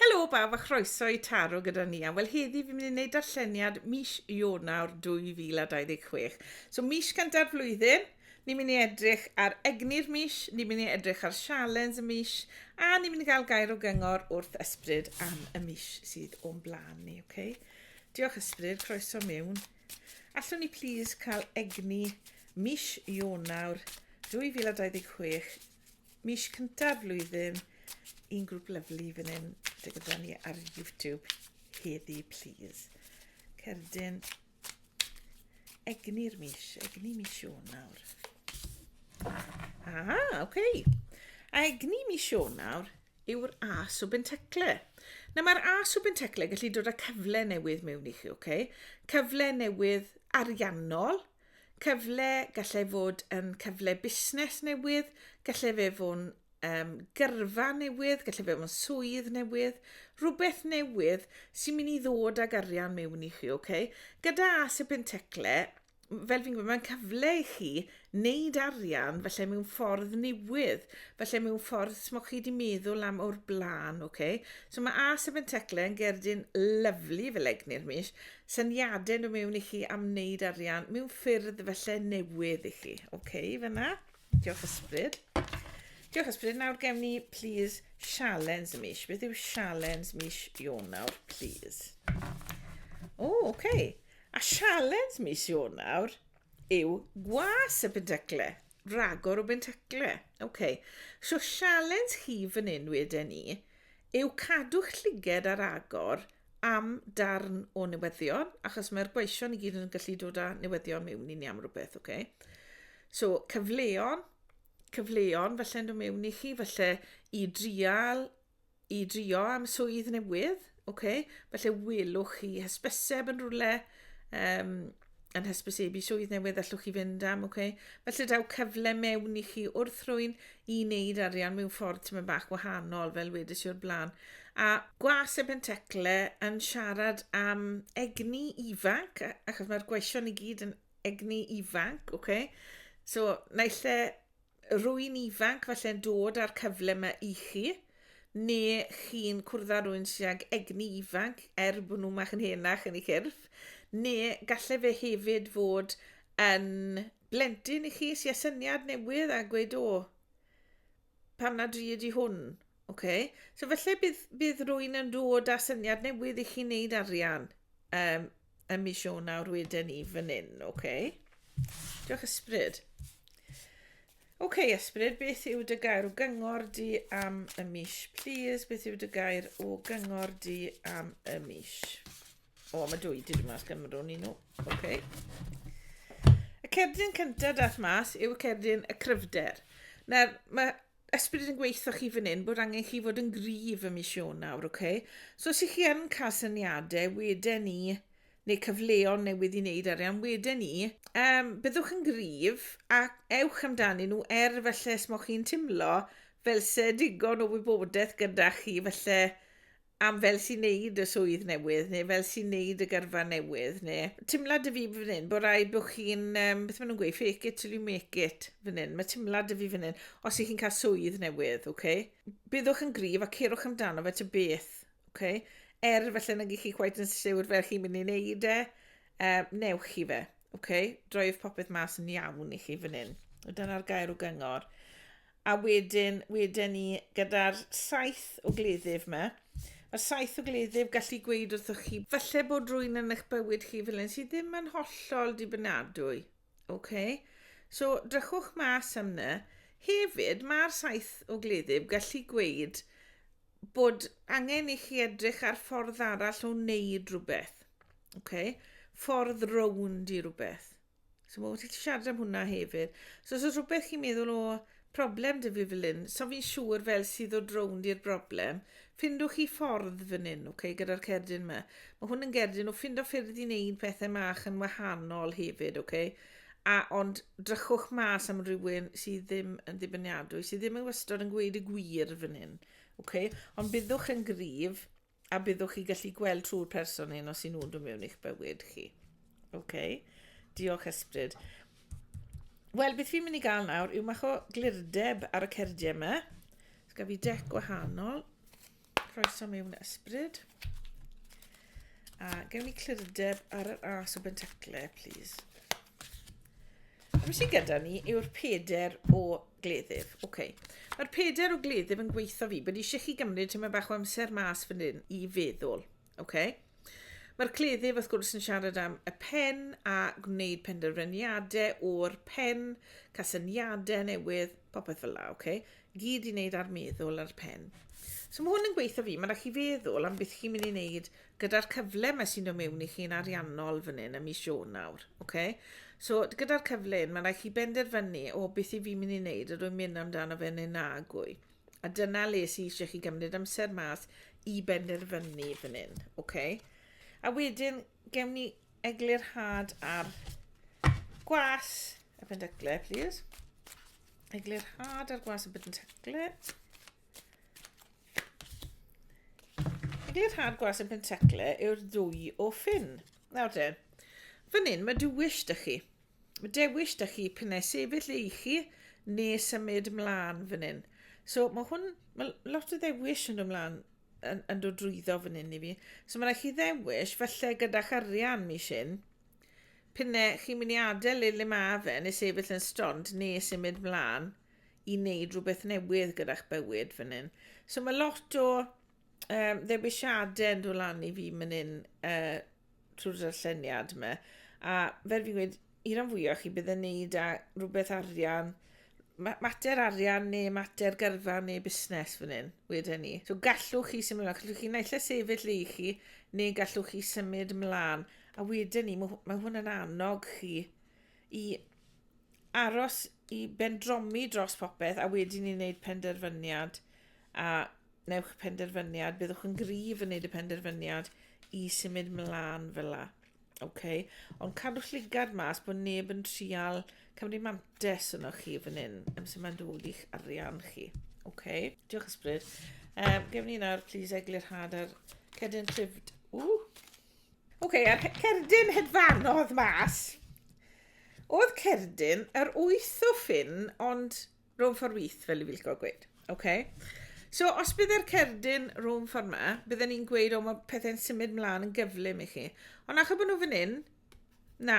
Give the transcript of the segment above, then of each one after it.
Helo bawb a chroeso i Taro gyda ni am wel heddi fi'n mynd i wneud darlleniad mis Ionawr 2026. So mis gyntaf flwyddyn, ni'n mynd i edrych ar egni'r mis, ni'n mynd i edrych ar sialens y mis a ni'n mynd i gael gair o gyngor wrth ysbryd am y mis sydd o'n blaen ni, oce? Okay? Diolch ysbryd, croeso mewn. Allwn ni plis cael egni mis Ionawr 2026 Mis cyntaf flwyddyn, un grŵp lyflu fan hyn, dy gyda ni ar YouTube heddi, please. Cerdyn, egni'r mis, egni mis nawr. Ah, oce. Okay. A egni mis nawr yw'r A subenteclo. Nawr mae'r A subenteclo yn gallu dod â cyfle newydd mewn i chi, oce? Okay? Cyfle newydd ariannol, Cyfle, gallai fod yn cyfle busnes newydd, gallai fe fo'n um, gyrfa newydd, gallai fe fo'n swydd newydd, rhywbeth newydd sy'n mynd i ddod ag arian mewn i chi, oce? Okay? Gyda as y pentecle, fel fi'n gwybod, mae'n cyfle i chi wneud arian felly mewn ffordd newydd, felly mewn ffordd sy'n chi wedi meddwl am o'r blaen, oce? Okay? So mae as y pentecle yn gerdyn lyflu fel egni'r mis, syniadau nhw mewn i chi am wneud arian mewn ffyrdd felly newydd i chi. Oce, okay, fyna. Diolch ysbryd. Diolch ysbryd. Nawr gewn ni, please, sialens y mis. Beth yw sialens mis Ionawr, please? O, oce. Okay. A sialens mis Ionawr yw gwas y bentacle. Ragor o bentacle. Oce. Okay. So sialens chi fan hyn wedyn ni yw cadw'ch lliged ar agor am darn o newyddion, achos mae'r gweision i gyd yn gallu dod â newyddion mewn i ni am rhywbeth, oce? Okay? So, cyfleon, cyfleon, falle yn dod mewn i chi, falle i drial, i drio am swydd newydd, oce? Okay? Falle welwch chi hysbyseb yn rhywle, um, yn hysbysebu swydd newydd allwch chi fynd am, ok? Felly daw cyfle mewn i chi wrth rwy'n i wneud arian mewn ffordd ti'n mynd bach gwahanol, fel wedys i o'r blaen. A gwas y pentecle yn siarad am egni ifanc, achos mae'r gweision i gyd yn egni ifanc, ok? So, naill e rwy'n ifanc falle'n dod â'r cyfle yma i chi, neu chi'n cwrdd â rwy'n sy'n ag egni ifanc er bod nhw'n mach yn henach yn ei chyrff, neu gallai fe hefyd fod yn blentyn i chi sy'n syniad newydd a gweud o, pam nad dwi ydi hwn? Okay. So falle bydd, bydd rwy'n yn dod â syniad newydd i chi wneud arian um, Yn mis Ionawr wedyn ni fan hyn, oce. Okay. Diolch ysbryd. Oce okay, ysbryd, beth yw dy gair o gyngor di am y mis, please? Beth yw dy gair o gyngor di am y mis? O, mae dwy di mas Cymru ni nhw. Oce. Okay. Y cerdyn cyntaf dath mas yw cerdyn y cryfder. Nawr, mae ysbryd yn gweithio chi fan hyn bod angen chi fod yn gryf ym mis Ionawr, oce? Okay? So os ych chi yn cael syniadau wedyn ni, neu cyfleon newydd i wneud arian wedyn ni, um, byddwch yn gryf a ewch amdani nhw er felly os mod chi'n timlo fel se digon o wybodaeth gyda chi, felly am fel sy'n neud y swydd newydd, neu fel sy'n neud y gyrfa newydd, neu timlad y fi fan hyn, bod rhaid bod chi'n, um, beth maen nhw'n gweud, fake it till you make it fan hyn. Mae timlad y fi fan hyn, os ych chi'n cael swydd newydd, okay? byddwch yn grif a cerwch amdano fe ty beth, okay? er felly nag ych chi gwaith yn siwr fel chi'n mynd i wneud e, uh, newch chi fe. Okay? Droiwch popeth mas yn iawn i chi fan hyn. Dyna'r gair o gyngor. A wedyn, wedyn ni gyda'r saith o gleddyf yma. Mae'r saith o gleddyf gallu gweud wrthych chi, falle bod rwy'n yn eich bywyd chi fel un sydd ddim yn hollol dibynadwy. Okay? So, drychwch mas am yna. Hefyd, mae'r saith o gleddyf gallu gweud bod angen i chi edrych ar ffordd arall o wneud rhywbeth. Okay? Ffordd rownd i rhywbeth. So mae wedi siarad am hwnna hefyd. So os oes rhywbeth chi'n meddwl o problem dy fi fel un, so fi'n siŵr fel sydd o drownd i'r broblem, ffindwch chi ffordd fan hyn, okay, gyda'r cerdyn yma. Mae hwn yn gerdyn o ffindo ffyrdd i wneud pethau mach yn wahanol hefyd, okay? a ond drychwch mas am rhywun sydd ddim yn ddibyniadwy, sydd ddim yn wastod yn gweud y gwir fan hyn. Okay? Ond byddwch yn gryf A byddwch chi'n gallu gweld trwy'r person hyn os y'n nhw'n dod mewn i'ch bywyd chi. OK. Diolch ysbryd. Wel, beth fi'n mynd i gael nawr yw mach o glirdeb ar y cerdiau yma. Os gaf fi dec gwahanol. Croeso mewn ysbryd. A gewn ni clirdeb ar yr as o bentacle, please. A beth sy'n gyda ni yw'r peder o Gleddyf, ok. Mae'r peder o gleddyf yn gweithio fi, bod eisiau chi gymryd tyma bach o amser mas fan hyn i feddwl, ok? Mae'r cleddyf wrth gwrs yn siarad am y pen a gwneud penderfyniadau o'r pen, casyniadau newydd, popeth fel la, ok? Gyd i wneud ar meddwl ar pen. So mae hwn yn gweithio fi, mae'n rhaid chi feddwl am beth chi'n mynd i wneud gyda'r cyfle mae sy'n dod mewn i chi'n ariannol fan hyn ym mis Ionawr, oce? So, gyda'r cyfle hyn, mae'n rhaid chi benderfynu, o, beth i fi mynd i wneud, ydw i'n mynd amdano fe neu nagwy. A dyna le sy'n eisiau chi gymryd amser mas i benderfynu fan hyn, oce? A wedyn, gewn ni eglurhad ar gwas y pendycle, please. Eglurhad ar gwas y pendycle. Neu'r rhan gwas yn pentecle yw'r ddwy o ffyn. Nawr de, fan hyn mae dewis da chi. Mae dewis da chi pyn ei sefyll ei chi neu symud mlaen fan hyn. So mae hwn, mae lot o ddewis yn dod mlaen yn, yn dod drwyddo fan hyn i fi. So mae rhaid chi ddewis, felly gyda'ch arian mi sy'n, pyn ei chi'n mynd i adael le le mae fe neu sefyll yn stond neu symud mlaen. i wneud rhywbeth newydd gyda'ch bywyd fan hyn. So mae lot o um, ddewisiadau yn dod lan i fi fan hyn uh, trwy'r darlleniad yma. A fel fi'n gweud, i ran fwyaf chi bydd yn neud â rhywbeth arian, mater arian neu mater gyrfa neu busnes fan hyn, wedyn ni. So gallwch chi symud ymlaen, gallwch chi naill a sefyll le i chi, neu gallwch chi symud ymlaen. A wedyn ni, mae hwnna'n annog chi i aros i bendromi dros popeth a wedyn i wneud penderfyniad a newch penderfyniad, byddwch yn gryf yn wneud y penderfyniad i symud mlaen fel la. Okay. Ond cadwch llygad mas bod neb yn trial cymru mantes yno chi fan hyn, am sy'n mae'n dod i'ch arian chi. Okay. Diolch ysbryd. Um, Gefn ni nawr, please, eglurhad ar cedyn trifd. Ww! Oce, okay, a'r cerdyn hedfanodd mas. Oedd cerdyn yr wyth o ffyn, ond rhwng ffordd wyth, fel i filgo gweud. Oce? Okay? So, os bydde'r cerdyn rhwng ffordd yma, bydden ni'n gweud, o, mae pethau'n symud mlaen yn gyflym i chi. Ond achos bod nhw fan hyn, na,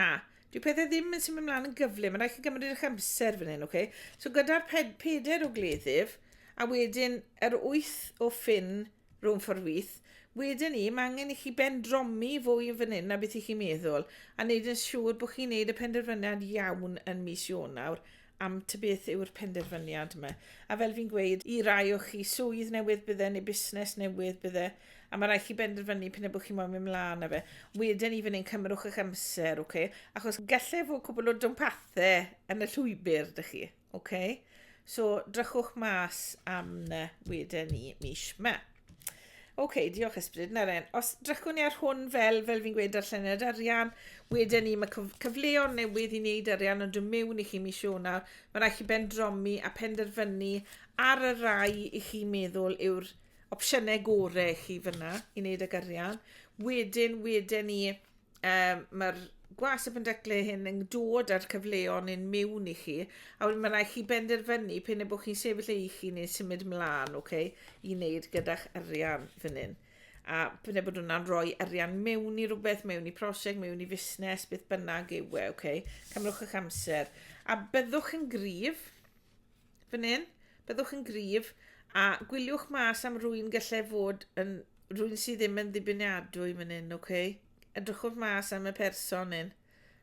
dwi pethau ddim yn symud mlaen yn gyflym, mae'n rhaid chi gymryd eich amser fan hyn, oce? Okay? So, gyda'r ped peder o gleddyf, a wedyn yr wyth o ffyn Rhwng ffordd wyth. Wedyn 'ny, mae angen i chi bendromi fwy yn fan hyn na beth i chi meddwl, a wneud yn siŵr bod chi'n neud y penderfyniad iawn yn mis Ionawr am ta beth yw'r penderfyniad yma. A fel fi'n gweud, i rai o chi, swydd newydd bydde neu busnes newydd bydde, a mae rhaid chi benderfynu p'un a bod chi moyn mynd mlaen â fe. Wedyn 'ny fan hyn, cymerwch eich amser, ocê? Achos gallai fod cwbl o dwmpathau yn y llwybr 'da chi. Ok, so drychwch mas am na wedyn ni mis yma. Ok, diolch ysbryd, na ren. Os drychwn ni ar hwn fel, fel fi'n gweud, darlleniad arian, wedyn ni, mae cyfleon newydd i wneud arian yn dod mewn i chi mis Ionawr. Mae rhaid chi ben dromi a penderfynu ar y rai i chi meddwl yw'r opsiynau gorau i chi fyna i wneud ag arian. Wedyn, wedyn ni, um, mae'r gwas y pendecle hyn yn dod â'r cyfleon yn mewn i chi, a wedyn mae rhaid chi benderfynu pen y bod chi'n sefyll ei chi neu symud mlaen, oce, okay, i wneud gyda'ch arian fan hyn. A pen y bod hwnna'n rhoi arian mewn i rhywbeth, mewn i prosiect, mewn i fusnes, beth bynnag yw e, oce, okay, cymrwch eich amser. A byddwch yn gryf, Fan hyn, byddwch yn gryf, a gwyliwch mas am rwy'n gallai fod yn rwy'n sydd ddim yn ddibeniadwy fan hyn, oce? Okay? Edrychwch mas am y person hyn,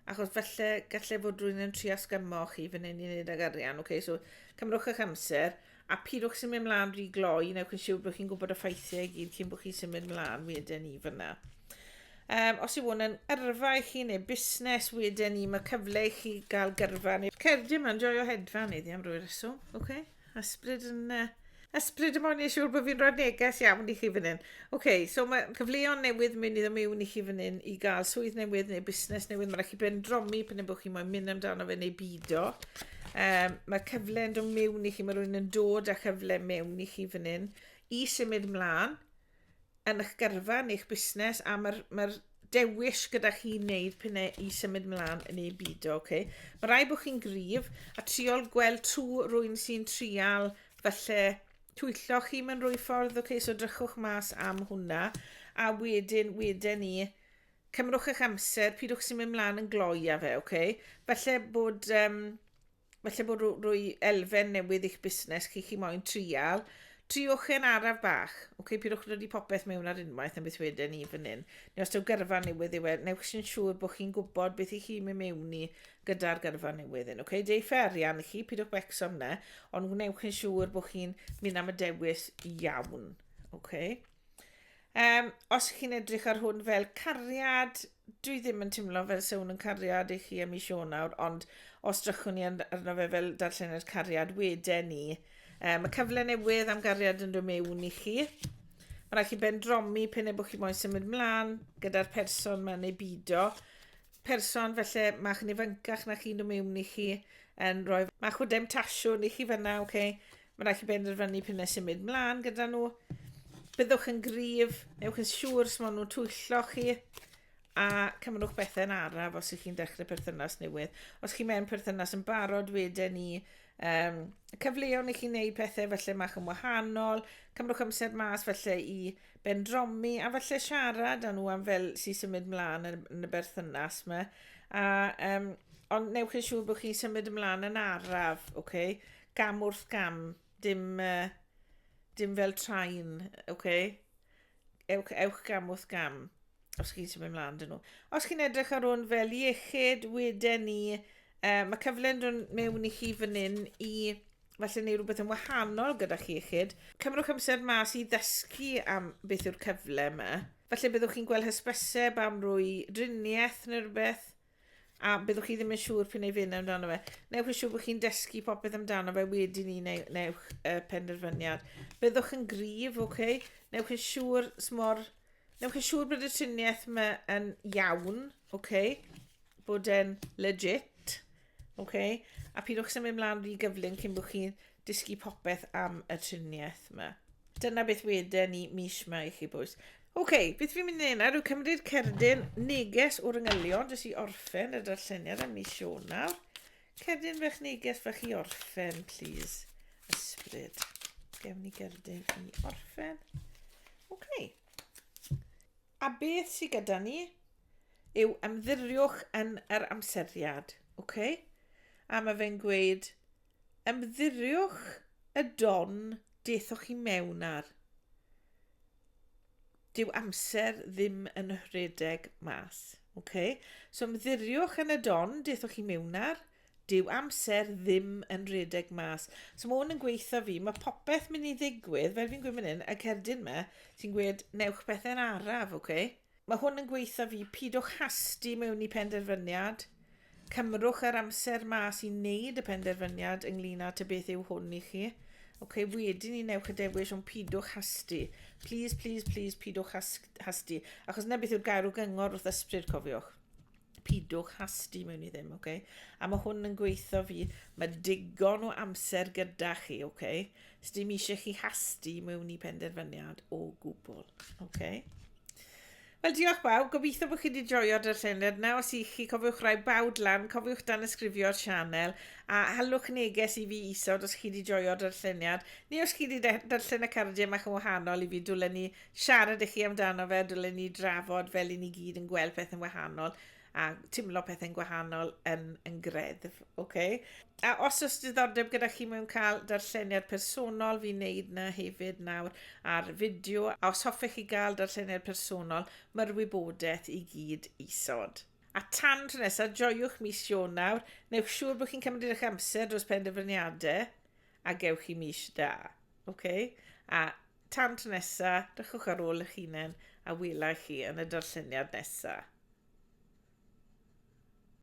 achos falle gallai fod rwy'n yn tri asgymo chi fan hyn i wneud ag arian, oce? Okay? So, cymrwch eich amser, a pidwch sy'n mynd mlaen rhy gloi, newch yn siŵr bod chi'n gwybod y ffeithiau i gyd cyn bod chi'n symud mlaen wedyn i fyna. Um, os yw hwn yn yrfa i chi neu busnes, wedyn ni, mae cyfle i chi gael gyrfa. Neu... Cerdi yma'n joio hedfa ni ddi am rwy'r reswm. Oce, okay. ysbryd yn... Uh, ysbryd yn mwyn i siŵr bod fi'n rhoi neges iawn i chi fan hyn. Oce, okay, so mae cyfleon newydd mynd i ddim mewn i chi fan hyn i gael swydd newydd neu busnes newydd. Mae'n rhaid chi bendromi pan yw'n bod chi moyn mynd amdano fe neu bido. Um, mae cyfle yn dod mewn i chi, mae rhywun yn dod â chyfle mewn i chi fan hyn i symud mlaen yn eich gyrfa, yn eich busnes, a mae'r ma dewis gyda chi wneud pan e i symud mlaen yn ei byd, oce? Okay? Mae rai bod chi'n gryf a triol gweld trw rwy'n sy'n trial falle twyllo chi mewn rwy ffordd, oce? Okay? So drychwch mas am hwnna, a wedyn, wedyn ni, cymrwch eich amser, pidwch sy'n mynd mlaen yn gloi a fe, oce? Okay? Falle bod... Um, falle bod rwy elfen newydd i'ch busnes chi, chi moyn trial, triwch e'n araf bach. Oce, okay, pidwch wedi popeth mewn ar unwaith yn beth wedyn ni fan hyn. Neu os daw gyrfa newydd yw e, newch sy'n siŵr bod chi'n gwybod beth i chi mynd mewn i gyda'r gyrfa newydd yn. Oce, okay, deu ffer arian i chi, pidwch becso am ne, ond gwnewch yn siŵr bod chi'n mynd am y dewis iawn. Oce. Okay. Um, os chi'n edrych ar hwn fel cariad, dwi ddim yn teimlo fel se hwn yn cariad i chi am i sio nawr, ond os drychwn ni arno fe fel darllenau'r cariad wede ni, um, y cyfle newydd am gariad yn dod mewn i chi. Mae rhaid chi bendromi pen e bod chi moyn symud mlaen gyda'r person mae'n neu bido. Person felly mae'ch nifancach na chi'n dod mewn i chi yn rhoi mae'ch wydem tasiwn i chi fyna, oce? Okay? Mae'n rhaid chi benderfynu p'un ai symud mlaen gyda nhw. Byddwch yn gryf, newch yn siŵr sut maen nhw'n twyllo chi, a cymrwch bethau'n araf os ydych chi'n dechrau perthynas newydd. Os chi mewn perthynas yn barod, wedyn ni, um, cyfleon i chi wneud pethau felly mach yn wahanol, cymrwch amser mas felly i bendromi, a felly siarad â nhw am fel sy'n symud mlaen yn y berthynas yma. A, um, ond newch yn siŵr bod chi'n symud ymlaen yn araf, okay? Gam wrth gam, dim, uh, dim fel train, oce? Okay? Ewch, ewch gam wrth gam, os chi'n symud ymlaen dyn nhw. Os chi'n edrych ar hwn fel iechyd, wedyn ni, uh, mae cyfle'n dod mewn i chi fan hyn i falle neu rhywbeth yn wahanol gyda chi iechyd. Cymrwch amser mas i ddysgu am beth yw'r cyfle yma. Falle byddwch chi'n gweld hysbyseb am rwy driniaeth neu rhywbeth. A byddwch chi ddim yn siŵr p'un ei fynd amdano fe. Newch yn siŵr bod chi'n dysgu popeth amdano fe wedi ni neu, newch uh, penderfyniad. Byddwch yn grif, oce? Okay? Newch yn siŵr smor... Newch yn siŵr bod y triniaeth yma yn iawn, oce? Okay? Bod e'n legit, oce? Okay? A pidwch symud mlaen rhy gyflym cyn bod chi'n dysgu popeth am y triniaeth yma. Dyna beth weden ni mis yma i chi bwys. Oce, okay, beth fi'n mynd i neud nawr yw cymryd cerdyn neges o'r yngylion jyst i orffen y darlleniad am mis Ionawr. Cerdyn fech neges fach i orffen, please. Ysbryd. Gewn ni gerdyn i orffen. Oce. Okay. A beth sydd gyda ni yw ymddiriwch yn yr amseriad. Oce? Okay? A mae fe'n gweud ymddiriwch y don daethoch chi mewn ar. Dyw amser ddim yn rhedeg mas. Okay? So ymddiriwch yn y don daethoch chi mewn ar dyw amser ddim yn redeg mas. So mae hwn yn gweithio fi, mae popeth mynd i ddigwydd, fel fi'n gweud fan hyn, y cerdyn me, sy'n gweud, newch pethau'n araf, oce? Okay? Mae hwn yn gweitho fi, pidwch hasti mewn i penderfyniad, cymrwch yr amser mas i wneud y penderfyniad ynglyn â ta beth yw hwn i chi. Ok, wedyn ni newch y dewis ond pidwch hasti. Please, please, please, pidwch hasti. Achos na beth yw'r gair o gyngor wrth ysbryd, cofiwch. pidwch hasti mewn i ddim, okay? A mae hwn yn gweithio fi, mae digon o amser gyda chi, okay? Os dim eisiau chi hasti mewn i penderfyniad o gwbl, okay? Wel, diolch bawb. Gobeithio bod chi wedi joio darllened. Nawr os i chi cofiwch rai bawd lan, cofiwch dan ysgrifio'r sianel a halwch neges i fi isod os chi wedi joio darlleniad neu os chi wedi darllen y cardiau mach yn wahanol i fi dwlen ni siarad i chi amdano fe, dylen ni drafod fel i ni gyd yn gweld pethau'n wahanol a timlo pethau'n gwahanol yn, yn greddf, oce? Okay? A os oes diddordeb gyda chi mewn cael darlleniad personol, fi'n neud na hefyd nawr ar fideo, a os hoffech chi gael darlleniad personol, mae'r wybodaeth i gyd isod. A tan tro nesaf, joiwch mis Ionawr, newch siŵr bod chi'n cymryd eich amser dros penderfyniadau, A gewch chi mis da, ok? A tan tro nesa, dychwch ar ôl eich hunain a wela chi yn y darlleniad nesa.